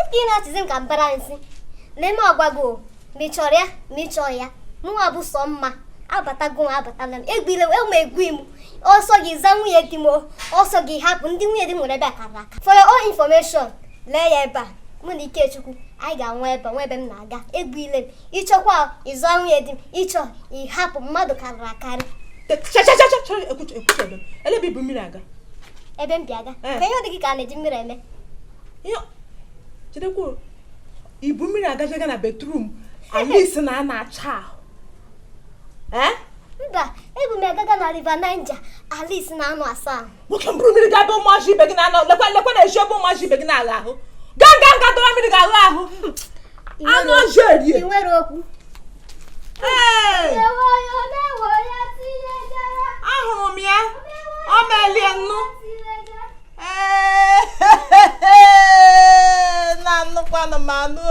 ịpụ ị na-esizi m ka mbara nsị n'eme ọgwago ma ị chọrọ ya ma ị chọọ ya mụnwa bụ Somma abatago m abatala m egbile enwe egwu m ọ sọ gị za nwunye di m ọ sọ gị hapụ ndị nwunye di m nwere ebe a kara aka for your own information lee ya ebe a mụ na Ikechukwu anyị ga-anọ ebe a enwe ebe m na-aga egwu ile m ị chọkwa ịza nwunye di m ị chọọ ị hapụ mmadụ karịrị akarị ele ebe i bu mmiri aga ebe m bu ya aga ka ihe ọ dị gị ka a na-eji mmiri eme chedekwa i bu mmiri aga ịga na bathroom Alice na-anọ acha ahụ mba ebu m agaga na River Niger Alice na-anọ asa ahụ nwoke m buru mmiri gaa ebe ụmụazị ibe gị na-anọ lekwa lekwa n'ezi ebe ụmụazị ibe gị na-agha ahụ gaa gaa gaa dọrọ mmiri gaa ghaa ahụ anụ ọjọọ erie ahụrụ m ya ọ melie nnu na-anụkwanụ m anụ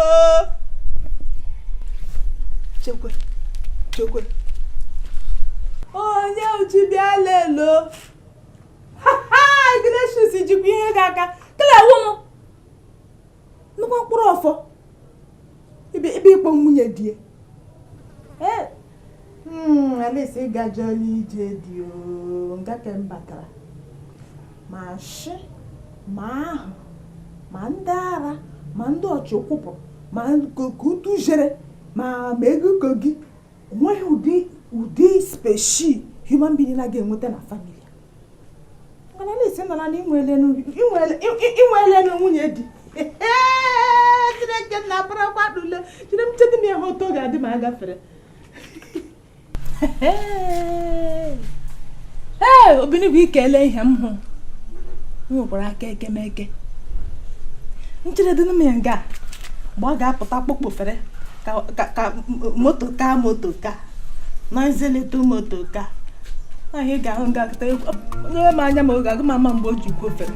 chekwe chekwe onye uju bịa lele o Ignatius jikwa ihe gị aka kelewu m nnukwu mkpụrụ ọfọ ebe ịkpọ nwunye di hmm, Alice ị gajọọla ije di nga ke m batara ma shị ma ahụ ma ndị ara ma ndị ọchịkwụpụ ma ka utu jere ma ma ego gị o nweghị ụdị ụdị speshi human being na ga-enweta na family mana Alice nọ na i nweelenu nwunye di chineke na abarakwa dule jiri m chedị m ihe otu ọ ga-adị ma a gafere ee obinigbo ikele ihe m hụ nwekwara aka ekemeke ncheredị m ya nga mgbe ọ ga-apụta kpokpofere ka moto ka moto ka na-accelerate moto ka anyị ga-ahụ ngakọta nyere m anya ma ọ gaghị ama mgbe o ji kwofere